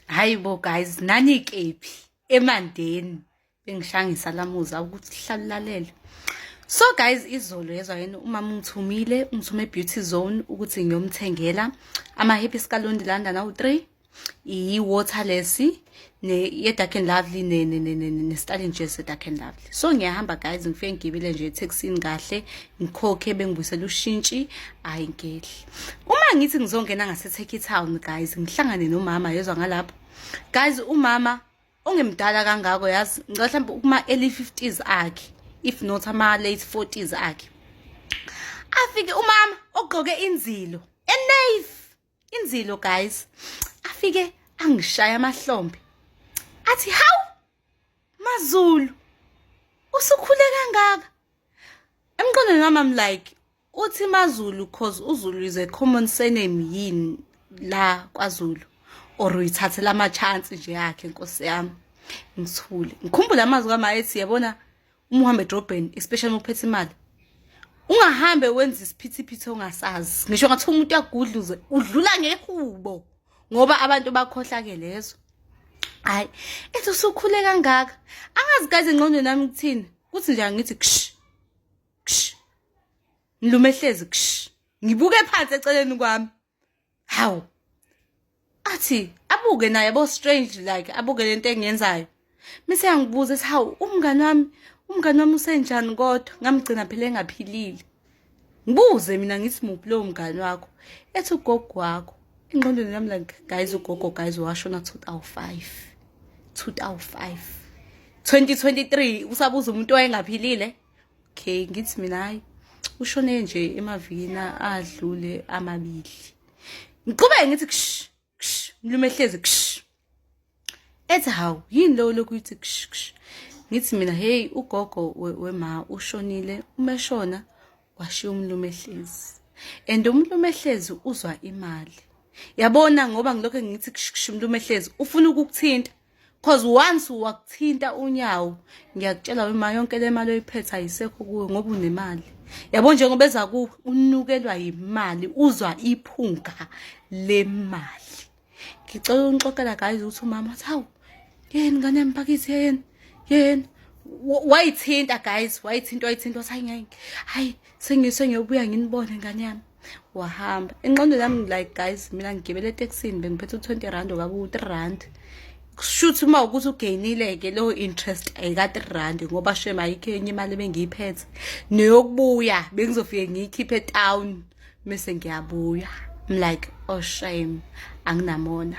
hayi bo guys nani kephi emandeni bengishangisa lamuza ukuthi hlalulale so guys izolo yezwa yena umama ungithumile ungithume beauty zone ukuthi ngiyomthengela ama happy scalondi landa nawu 3 iyi waterless ne ye dark and lovely ne ne ne ne ne Stalin Jazz dark and lovely so ngiyahamba guys ngifike ngigibile nje etaxini kahle ngikhokhe bengibuyisela ushintshi ayingeli uma ngithi ngizongena ngaseTurkey Town guys ngihlangane nomama yezwa ngalapho guys umama ongemdala kangako yazi ngicela mhlawumbe kuma early 50s akhe if not ama late 40s akhe afike umama ogqoke inzilo enave inzilo guys afike angishaya amahlombe athi hawu mazulu usukhule kangaka emqondweni wami am like Uthi maZulu cause uZulu is a common surname yini la kwaZulu or uyithathela ama chance nje yakhe Nkosi yami ngithule ngikhumbula amazwi kama ethi yabona uma uhamba edrobheni especially uma uphethe imali ungahambe wenza isiphithiphithi ongasazi ngisho ngathi umuntu uyagudluze udlula ngehubo ngoba abantu bakhohlake lezo hayi ethi usukhule kangaka angazi kaze ngqondo nami kuthini kuthi nje angithi ksh ksh ngilume ehlezi ksh ngibuke phansi eceleni kwami hawu athi abuke naye bo strange like abuke lento engiyenzayo mise yangibuza ethi hawu umngane wami umngane wami usenjani kodwa ngamgcina phela engaphilile ngibuze mina ngithi muphi lowo mngane wakho ethi ugogo wakho engqondweni yami like guys ugogo guys washona 2005 2005 2023 usabuza umuntu owayengaphilile okay ngithi mina hayi ushone nje emavikini adlule amabili ngiqhubeke ngithi ksh ksh mlume hlezi ksh ethi hawu yini lowo lokhu yithi ksh ksh ngithi mina hey ugogo wema ushonile umeshona washiya umlume hlezi and umlume hlezi uzwa imali yabona ngoba ngilokho ngithi ksh ksh umlume hlezi ufuna ukukuthinta cause once wakuthinta unyawo ngiyakutshela wema yonke le mali oyiphethe ayisekho kuwe ngoba unemali yabo njengoba eza kuwe unukelwa yimali uzwa iphunga le mali ngicela unixoxela guys ukuthi umama athi hawu yeni ngane yami pakithi yeni yeni wayithinta guys wayithinta wayithinta wathi hayi ngeke hayi sengiyobuya nginibone ngane yami wahamba inqondo yami like guys mina ngigibele etekisini bengiphethe u-twenty rand okabe u-three rand kushuthi uma ukuthi ugainile-ke leyo interest ayika-three rand ngoba shem ayikho enye imali ebengiyiphethe neyokubuya bengizofike ngiyikhiphe etown mese ngiyabuya I'm like oh shame anginamona